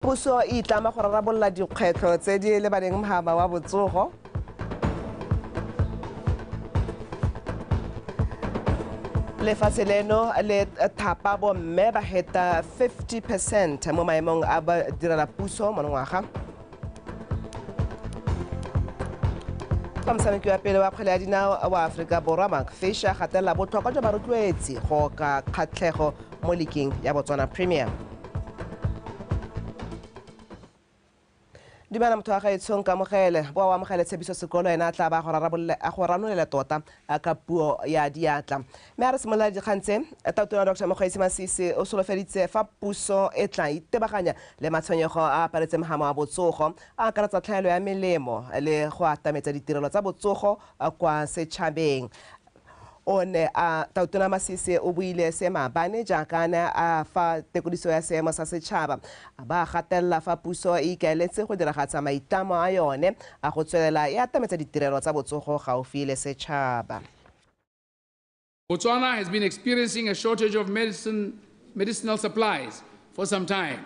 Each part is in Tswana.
Puso e itlama go rarabolola dikgwetlho tse di lebaneng mhaba wa botsogo. Lefatshe leno le thapa bomme ba heta 50 percent mo maemong a ba direla puso monongwaga. fa motshameki wa pele wa kgwele ya dinao wa aforika borwa mark fisher gatelela botlhokwa jwa barotloetsi go ka kgatlhego mo likeng ya Botswana Premier. Dumela motho wa gaetsho nkamogele boa o amogele tshepiso sekolo ena a tla ba a go ranolela tota ka puo ya diatla mme a re simolola dikgang tse tatona dr mokgweetsi masisi o solofeditse fa puso e tla itebaganya le matshwenyego a aparetse mogama wa botsogo a akaretsa tlhaelo ya melemo le go atametsa ditirelo tsa botsogo kwa setšhabeng O ne a Tautona Masisi o buile se maabane jaaka a ne a fa tekodiso ya seemo sa setšhaba, a ba a gatelela fa puso e ikaeletse go diragatsa maitlamo a yone a go tswelela e atametsa ditirelo tsa botsogo gaufi le setšhaba. Botswana has been experiencing a shortage of medicine, medicinal supplies for some time.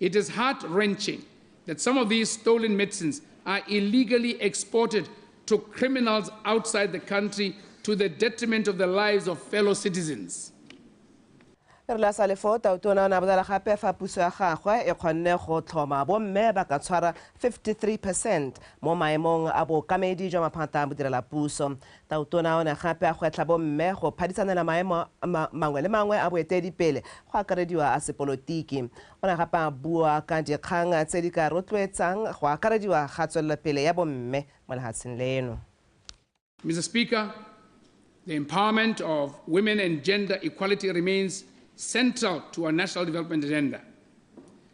It is heart-wrenching that some of these stolen medicines are illegally exported to criminals outside the country to the detriment of the lives of fellow citizens. re la sale foo tautona o ne a bolela gape fa puso ya gagwe e kgonne go tlhoma bomme ba ka tshwara 53 percent mo maemong a bookamedi jwa maphata a bodirelapuso Tautona o ne gape a gwetlha bomme go phadisanela maemo mangwe le mangwe a boeteedipele, go akarediwa a sepolotiki. O ne gape a bua ka dikgang tse di ka rotloetsang go akarediwa ga tswelelopele ya bomme mo lehatsheng leno. Mister Speaker, the empowerment of women and gender equality remains central to our national development agenda.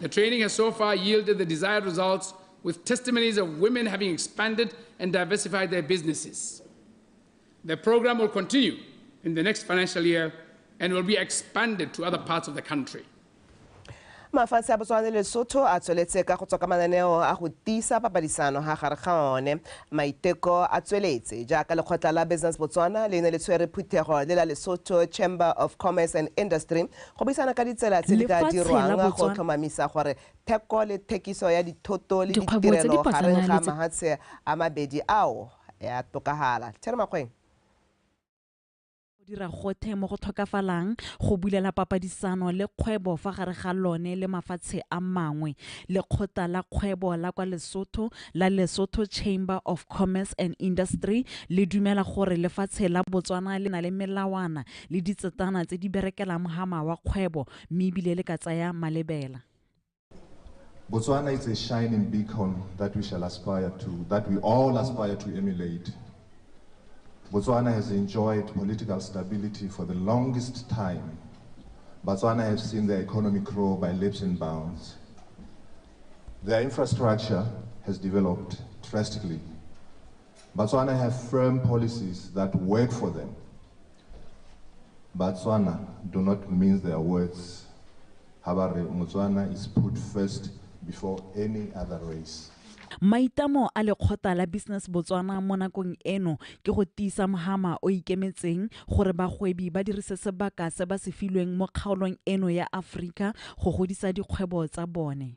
The training has so far yielded the desired results, with testimonies of women having expanded and diversified their businesses. The program will continue in the next financial year and will be expanded to other parts of the country. mafatshe a botswana le lesotho a tsweletse ka go tswa ka mananeo a go tiisa papadisano ga gare ga one maiteko a tsweletse jaaka lekgotla la business botswana le ne le tshwere phuthego le la lesotho chamber of commerce and industry Go buisana ka ditsela tse di ka dirwang go tlhomamisa gore theko le thekiso ya dithoto le ditirelo gareng ga mahatshe a mabedi ao ya tokagala. Terry Makgweng. Go dira gothe mo go tlhokafalang go bulela papadisano le kgwebo fa gare ga lone le mafatshe a mangwe. Lekgotla la kgwebo la kwa Lesotho la Lesotho Chamber of Commerce and Industry le dumela gore lefatshe la Botswana le na le melawana le ditsetana tse di berekelang mogama wa kgwebo mme ebile le ka tsaya malebela Botswana is a shining beacon that we shall aspire to, that we all aspire to emulate. Botswana has enjoyed political stability for the longest time. Botswana has seen their economy grow by leaps and bounds. Their infrastructure has developed drastically. Batswana have firm policies that work for them. Batswana do not mince their words. Habare Motswana is put first before any other race. Maitamo a lekgotla la Business Botswana mo nakong eno ke go tiisa mohama o ikemetseng gore bagwebi ba dirise sebaka se ba se filweng mo kgaolong eno ya Aforika go godisa dikgwebo tsa bone.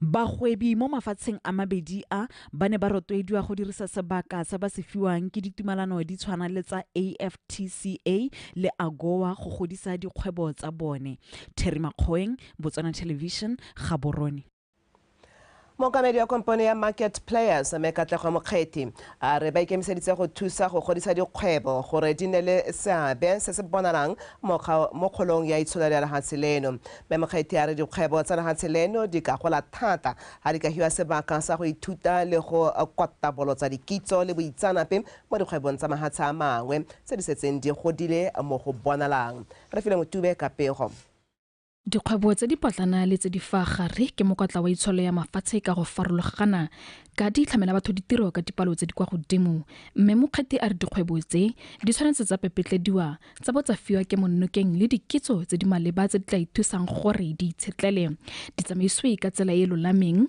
Bagwebi mo mafatsheng a mabedi a ba ne ba rotloediwa go dirisa sebaka se ba se fiwang ke ditumalano di tshwana le tsa AfTCA le AGOA go godisa dikgwebo tsa bone. Terry Makgoeng, Botswana Television, Gaborone. Mookamedi wa kompone ya Market Players, Mme Katlego Mokgethi, a re ba ikemiseditse go thusa go godisa dikgwebo gore di nne le seabe se se bonalang mo kga- mo kgolong ya itsholelo ya lehatshe leno. Mme Mokgethi a re dikgwebo tsa lehatshe leno di ka gola thata ha di ka hiwa sebaka sa go ithuta le go kwatabolotsa dikitso le boitsanape mo dikgwebong tsa mahatshe a mangwe tse di setseng di godile mo go bonalang. Re file Motube ka pego. Dikgwebo tse di potlana le tse di fa gare ke mokotla wa itsholo ya mafatshe ka go farologana ka di tlhamela batho ditiro ka dipalo tse di kwa godimo mme mokgethi a re dikgwebo tse di tshwanetse tsa pepetlediwa tsa bo tsa fiwa ke monnokeng le dikitso tse di maleba tse di tla ithusang gore di itshetlele di tsamaisiwe ka tsela e lolameng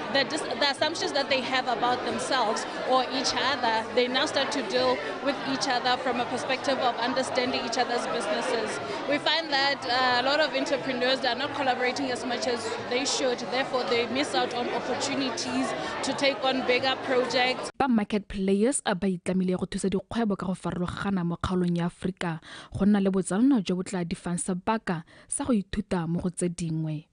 the, dis- the assumptions that they have about themselves or each other, they now start to deal with each other from a perspective of understanding each other's businesses. We find that uh, a lot of entrepreneurs are not collaborating as much as they should, therefore, they miss out on opportunities to take on bigger projects. ba market players a ba itlamile go thusa dikgwebo ka go farologana mo kgaolong ya aforika go nna le botsalano jo bo tla difang sebaka sa go ithuta mo go tse dingwe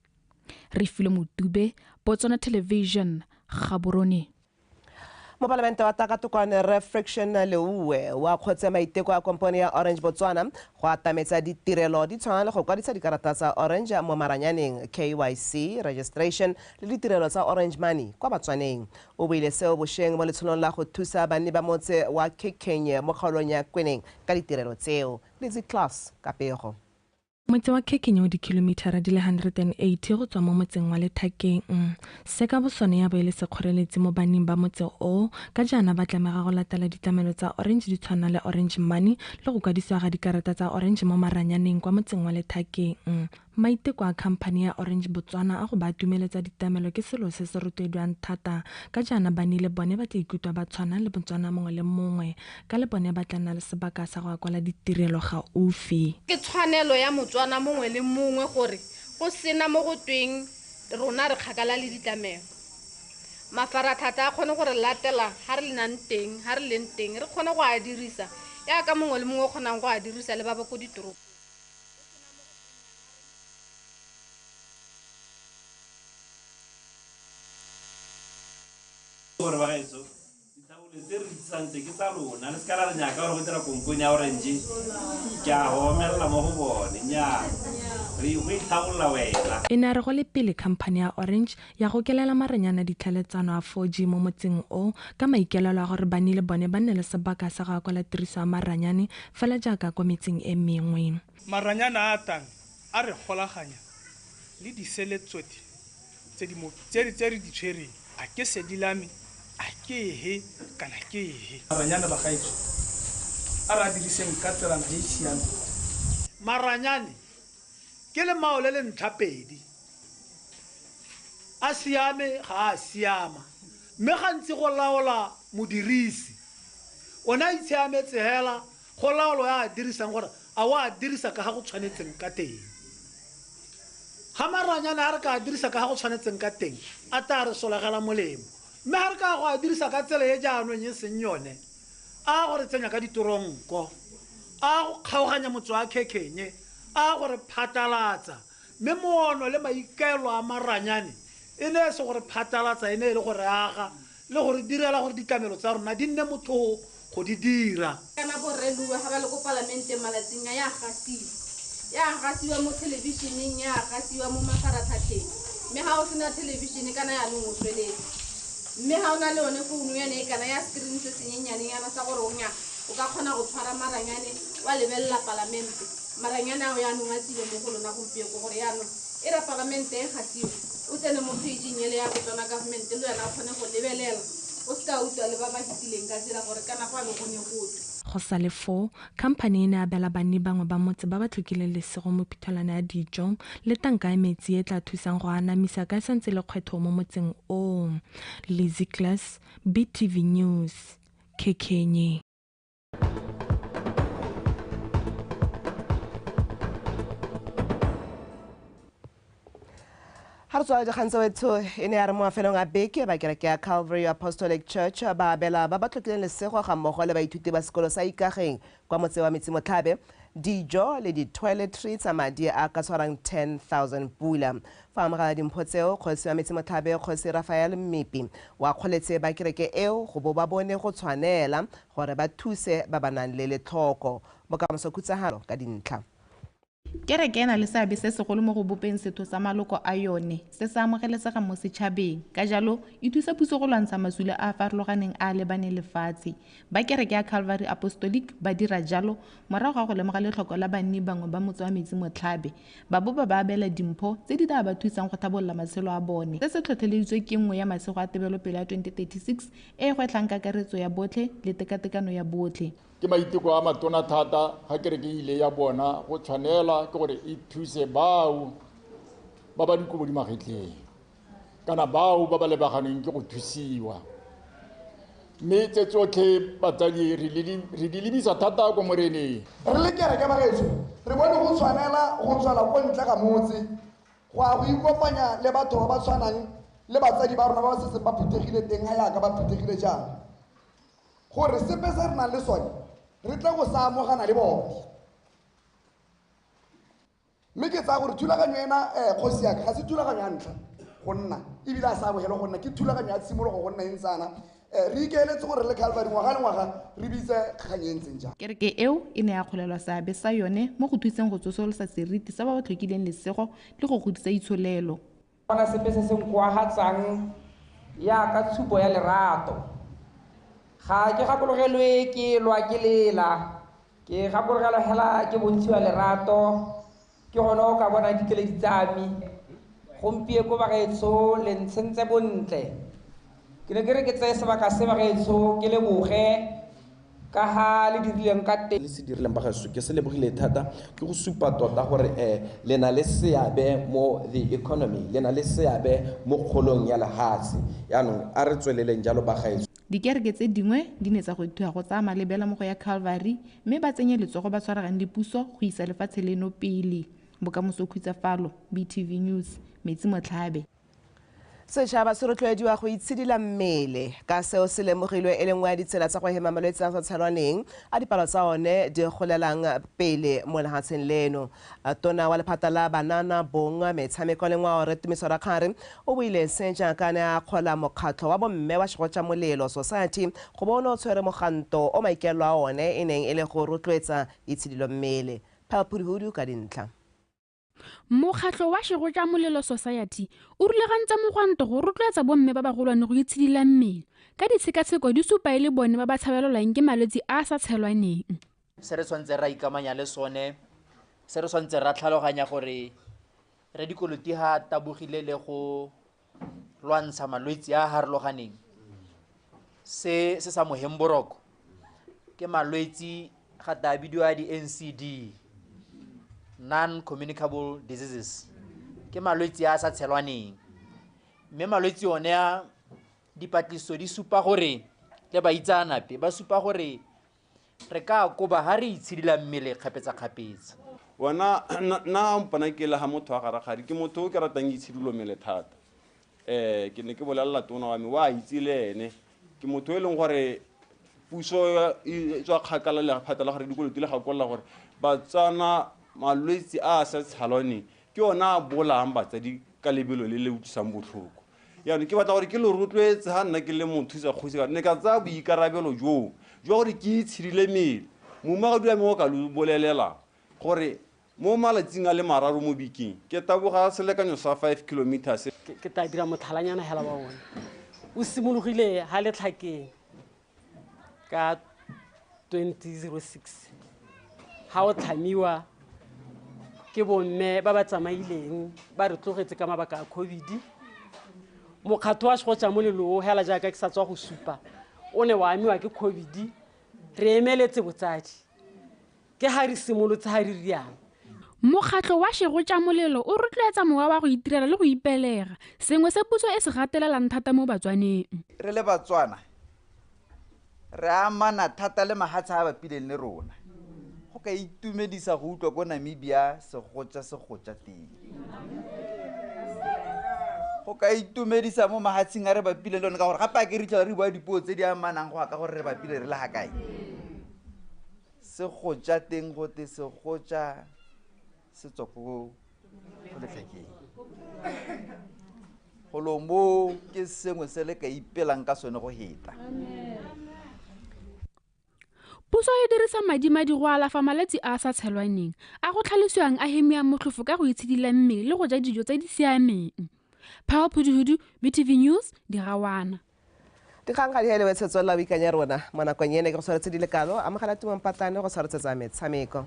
re filo motube botswana television gaborone mopalamente wa takatokwane re friction leuwe wa kgotse maiteko a kompone ya orange botswana go atametsa ditirelo di tshwana le go kwadisa dikarata tsa orange mo maranyaneng kyc registration le ditirelo tsa orange money kwa batswaneng o buile seo bosheng mo letsholong la go thusa banni ba motse wa kikkenye mo kgaolong ya kweneng ka ditirelo tseo litzy class ka pego Motse wa Kekinye o dikilomithara di le 180 go tswa mo motseng wa Lethakeng. Se ka bosone ya bo e le sekgoreletsi mo banning ba motse o, ka jaana ba tlamega go latela ditlamelo tsa Orange di tshwana le Orange Money le go kwadisiwa ga dikarata tsa Orange mo maranyaneng kwa motseng wa Lethakeng. Maiteko a khamphani ya Orange Botswana a go ba atumeletsa ditamelo ke selo se se rotloedwang thata, ka jaana banni le bone ba tla ikutlwa ba tshwana le Motswana mongwe le mongwe. ka le bone ba tla nna le sebaka sa go ya kwala ditirelo gaufi ke tshwanelo ya motswana mongwe le mongwe gore go sena mo go tweng rona re kgakala le ditlamelo mafaratlhatlha a kgone gore latela ga re lenang teng ga re leng teng re kgone go a dirisa yaka mongwe le mongwe o kgonang go a dirisa le ba ba ko ditoropo gore ba gaetso Ditaole tse re di tlisang tse ke tsa lona le se ka la re nyaka gore go dira kompone ya orange ke a go omelela mo go bone nyaa re go itlhabolola wena E ne a re go le pele khamphane ya Orange ya gokelela maranyana ditlhaeletsano a 4G mo motseng o ka maikelelo a gore banni le bone ba nne le sebaka sa go akola tiriso ya maranyane fela jaaka kwa metseng e mengwe. Maranyana a a tang A re golaganya le disele tsotlhe tse di mo tse re di tshwereng, a ke sedi la me, a ke he kana ke he. Maranyane bagaetsho, a re a diriseng ka tselana e e siameng. Maranyane ke lemao le le ntlhapedi, a siame ga a siama, mme gantsi go laola modirisi. One a itsheametse hela Go laolo ya a dirisang gore a o a dirisa ka ga go tshwanetseng ka teng. Ga maranyane a re ka a dirisa ka ga go tshwanetseng ka teng, a taa re solegela molemo. Mme ga re ka go a dirisa ka tsela e jaanong e seng yone, a go re tsenya ka ditoronko, a go kgaoganya motsoakhekenye, a go re phatalatsa. Mme moono le maikaelo a maranyane e ne e se go re phatalatsa, e ne e le go re aga, le go re direla gore ditlamelo tsa rona di nne mothoo go di dira. Kana bo Rre Luwa ga ba le ko Palamenteng malatsing a, ya gasiwa. Ya gasiwa mo thelebišeneng, ya gasiwa mo mafaratlhatlheng. Mme ga o sena thelebišene kana yanong o tsweletse. Mme ga o na le yone founu yane e kana ya screen se senyenyane yana sa gore o nya o ka kgona go tshwara maranyane wa lebelela Palamente. Maranyane ao yanong a tsile mo go lona gompieko gore yanong E re a pagameng teng ga Tiwa, o tsene mo kgeitšing ele ya Botona Government le wena o kgone go lebelela, o se ka utlwa le ba ba fetileng ka tsela gore kana go a be go ne go twe. Go sa le foo, khamphani e ne ya abela banni bangwe ba motse ba ba tlhokileng lesego mephuthulwana ya dijo le tanka ya metsi e e tla thusang go a anamisa ka e sa ntse e le kgwetho mo motseng oo. Lizzy Glass, BTV News, Khekenye. ga re tswa dikgang tsewetsho e ne ya re mo mafelong a beke ba kereke ya calvary apostolic church ba abela ba ba tlhotlileng lesego ga mmogo le baithuti ba sekolo sa ikageng kwa motse wa metsi-motlhabe dijo le di-toiletry tsa madi a ka tshwarang 10000 pula fa amogela dimpho tseo kgosi wa metsi-motlhabe kgosi rafael mmipi wa kgoletse ba kereke eo go bo ba bone go tshwanela Gore ba thuse ba ba nang le letlhoko. Bokamoso Khutsagalo ka dintlha. Kereke e na le seabe se segolo mo go bopeng setho sa maloko a yone se se amogelesegang mo setšhabeng. Ka jalo, e thusa puso go lwantsha masula a a farologaneng a a lebaneng lefatshe. Ba Kereke ya Calvary Apostolic ba dira jalo morago ga go lemoga letlhoko la banni bangwe ba motse wa Metsi Motlhabe, ba bo ba ba abela dimpho tse di daa ba thusang go thabolola matshelo a bone. Se se tlhotlheleditswe ke nngwe ya masego a tebelopelo ya 2036 e e gwetlhang kakaretso ya botlhe le tekatekano ya botlhe. Ke maiteko a matona thata ga kereke e ile ya bona go tshwanela ke gore e thuse bao ba ba dikobo di magetleng. kana bao ba ba lebaganeng ke go thusiwa mme tse tsotlhe batsadi re di lebisa thata ko moreneng re le kereke bagaetso re bone go tshwanela go tswela ko ntle ga motse go ya go ikopanya le batho ba ba tshwanang le batsadi ba rona ba ba setseng ba phuthegile teng ga yaka ba phuthegile jaana gore sepe se re nang le sone re tle go sa amogana le bone Mme ke tsaya gore thulaganyo ena, kgosi ya ka, ga se thulaganyo ya ntlha go nna, e bile a se amogelwe go nna, ke thulaganyo ya tshimologo go nna e ntse yana. Re ikaeletse gore re le Calvary ngwaga le ngwaga re bitse kgang e e ntseng jalo. Kereke eo e ne ya kgolelwa seabe sa yone mo go thuseng go tsosolosa seriti sa ba ba tlhokileng lesego le go godisa itsholelo. Gona sepe se se nkoagatsang jaaka tshupo ya lerato. Ga ke gakologelwe ke lwa ke lela, ke gakologelwa hela ke bontshiwa lerato, ke gone o ka bonang dikeledi tsa me. Gompieko bagaetsho le ntshentse bontle, Ke ne ke re ke tseye sebaka se, bagaetsho, ke leboge ka ga le dirileng ka teng. Le se dirileng, bagaetsho. Ke se lebogile thata. Ke go supa tota gore eh le na le seabe mo the economy, le na le seabe mo kgolong ya lehatshe. Jaanong a re tsweleleng jalo, bagaetsho. Dikereke tse dingwe di ne tsa gwethiwa go tsaya malebela mo go ya Calvary mme ba tsenye letsogo ba tshwaragane le puso go isa lefatshe leno pele. Bokamoso khutsa falo, BTV News, Metsi Motlhabe. Setšhaba se rotloediwa go itshidila mmele ka seo se lemogilwe e le nngwe ya ditsela tsa go hema malwetse a sa tshelwaneng a dipalo tsa one di golelang pele mo lehatsheng leno. Tona wa lephata la Banana, Bong, Metshameko le Ngwao Rre Tumiso Rakgare o buile se jaaka ne a akgola mokgatlho wa bomme wa Shegotša Molelo Society go bo o ne o tshwere moganto o maikaelelo a one e neng e le go rotloetsa itshidilo mmele. Pearl Phuduhudu ka dintlha. mokgatlho wa shego ja molelo society o rulagantse mogwanto go rotloetsa bomme ba bagolwane go itshedila mmele ka ditshekatsheko di supa e le bone ba ba tshabelelwang ke malwetse a a sa tshelwaneng se re tshwanetse ra ikamanya le sone se re tshwanetse ra tlhaloganya gore re dikolotiga tabogile le go lwantsha malwetse a a harologaneng se se sa moheng boroko ke malwetse ga ta bidiwa di-ncd non-communicable diseases ke malwetse a a sa tshelwaneng mme malwetse one a dipatlisiso di supa gore le baitsaanape ba supa gore Re ka koba ha re itshidila mmele kgapetsakgapetsa. Wena, nna, nna mpona ke le ha motho wa garakgadi. Ke motho o ke ratang itshidilo mmele thata. Ee, ke ne ke bolelela tona wa me, o a itse le ene. Ke motho e leng gore puso e tswa kgakala le phata la gore dikolo di le gakolola gore Batswana malwetse a a sa tshalwaneng ke one a bolayang batsadi ka lebelo le le utlwisang botlhoko. Jaanong ke batla gore ke lo rotloetse ga nna ke le mothusa kgosi ka ne ka tsaya boikarabelo joo jwa gore ke itshidile mele. Moumagadi wa me o ka lo bolelela gore mo malatsing a le mararo mo bekeng ke taboga selekanyo sa five kilometres. Ke tla dira motlhalanyana hela wa one. O simologile ha letlhakeng. ka 2006 ga o tlhamiwa ke bomme ba ba tsamaileng ba re tlogetse ka mabaka a covid mokgatlho wa segotsha moleloo hela jaaka ke sa tswa go supa o ne wa amiwa ke covid re emeletse botsadi Ke ha re simolotse ha re rialo. Mokgatlho wa Shego Tša Molelo o rotloetsa mowa wa go itirela le go ipelega, sengwe se puso e se gatelelang thata mo Batswaneng. Re le Batswana re amana thata le mahatshe a a bapileng le rona. Go ka itumedisa go utlwa ko Namibia segotša se gotša teng. Go ka itumedisa mo mahatsheng a re bapileng le one ka gore gape a ke re itlhela re bua dipuo tse di amanang go ya ka gore re bapile re le ga kae. Segotša teng gote segotša se tswa ko letlhakeng golo mo ke sengwe se le ka ipelang ka sone go heta Puso e dirisa madimadi go alafa malwetse a a sa tshelwaneng a go tlhalosiwang a hemia motlhofo ka go itshidila mmele le go ja dijo tse di siameng. Phao Phuduhudu, BTV News, Dirawana. dikgang ga di helebe tshetso la boikanya rona mo nakong ene ke go tshwaretse di le kalo amogela tumang patlane go tshwaretsetsa metshameko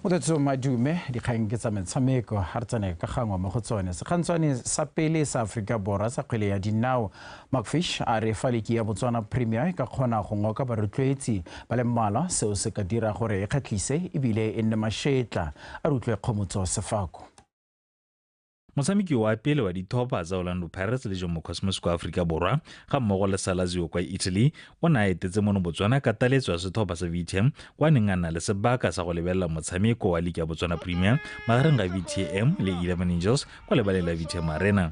motetso madume dikgang ke tsa metshameko ga re tsene ka gangwe mo go tsone sekgantshwane sa pele sa aforika borwa sa kgwele ya dinao McFish a re fa liki ya Botswana Premier e ka kgona go ngoka barotloetsi ba le mmalwa, seo se ka dira gore e kgatlhise e bile e nne mashetla. A re utlwe Kgomotso Sefako. Motshameki wa pele wa dithopa tsa Orlando Pirates le Jomo Cosmos kwa Aforika Borwa ga mmogo le sa Lazio kwa Italy o ne a etetse mono Botswana ka taletso ya setlhopha sa VTM kwa neng a nna le sebaka sa go lebelela motshameko wa Liki ya Botswana Premier magareng ga VTM le Eleven Angels kwa lebaleng la VTM Arena.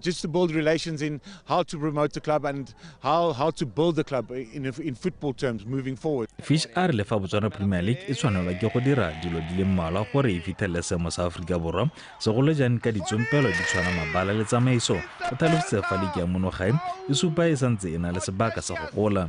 just to build relations in how to promote the club and how, how to build the club in, in football terms moving forward. Fish a re le fa Botswana Premier League e tshwanelwa ke go dira dilo di le mmalwa gore e fitlhelele seemo sa Aforika Borwa segolo jang ka ditsompelo di tshwana mabala le tsamaiso o tlhalositse fa leke ya monogae e supa e santse e na le sebaka sa go gola.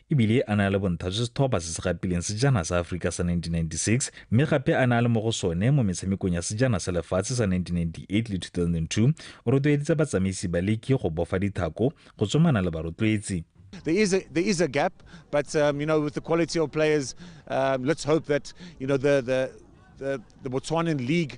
e bile a ne a le bonthha jwa setlhopha se se gapileng sejana sa Aforika sa 1996 mme gape a ne a le mo go sone mo metshamekong ya sejana sa lefatshe sa 1998 le 2002. O rotloeditse batsamaisi ba liki go bofa dithako, go tsomana le barotloetsi. There is a there is a gap, but um, you know with the quality of players, um, let's hope that you know the the the, the Botswanan league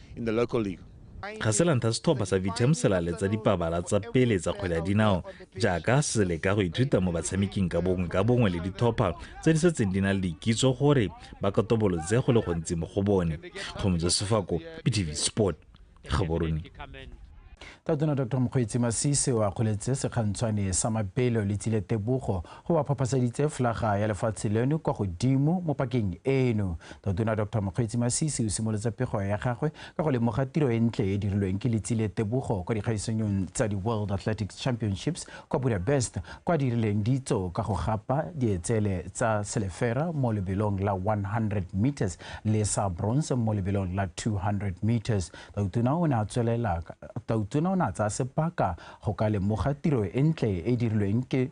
in the local league. Kgaselantha setlhopha sa Vitam se laletsa dipabala tsa pele tsa kgwele ya dinao jaaka se leka go ithuta mo batshameking ka bongwe ka bongwe le ditlhopha tse di setseng di na le dikitso gore ba katobolotse go le gontsi mo go bone kgomotso sefako btv sport gaborone tatona dr mokgweetsi masisi o akgoletse sekgantshwane sa mabelo le tsile tebogo go ba phaphasaditse flaga ya lefatshe leno kwa godimo mo pakeng eno tatona dr mokgweetsi masisi o simolotse pego ya gagwe ka go lemoga tiro e ntle e dirilweng ke letsile tebogo kwa dikgaisanyong tsa di-world athletics championships kwa budapest kwa dirileng ditso ka go gapa dietsele tsa selefera mo lebelong la 100 meters le sa bronze mo lebelong la 200 meters Tautona o ne a tswelela Tautona o ne a tsaya sebaka go ka lemoga tiro e ntle e dirilweng ke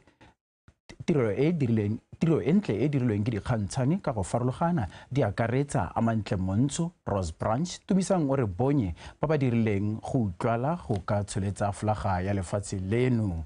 tiro e dirilweng tiro e ntle e dirilweng ke dikgantshane ka go farologana di akaretsa amantle montsho rose branch tumisang o re bonye ba ba dirileng go utlwala go ka tsholetsa folaga ya lefatshe leno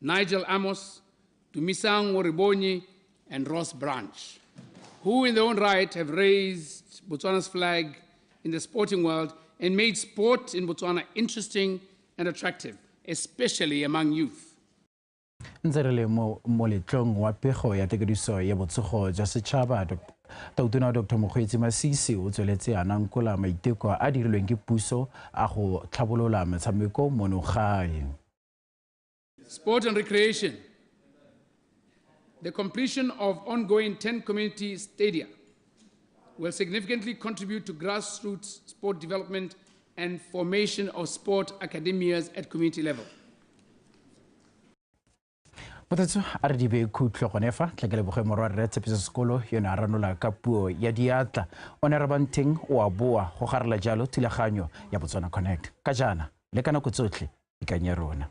Nigel Amos, Dumisang Oribonyi, and Ross Branch, who in their own right have raised Botswana's flag in the sporting world and made sport in Botswana interesting and attractive, especially among youth. ntse re le mo moletlong wa pego ya tekediso ya botsogo jwa setšhaba tautona dr mokgweetsi masisi o tsweletse a nankola maiteko a dirilweng ke puso a go tlhabolola metshameko mono gae Sport and recreation. The completion of ongoing 10 community stadia will significantly contribute to grassroots sport development and formation of sport academias at community level. mothatso a re dibe khutlo gone fa tla ke leboge morwa rre tshepiso sekolo yone a ranola ka puo ya diatla o ne rabanteng o a boa go garela jalo thulaganyo ya botswana connect ka jaana le ka nako tsotlhe ikang ya rona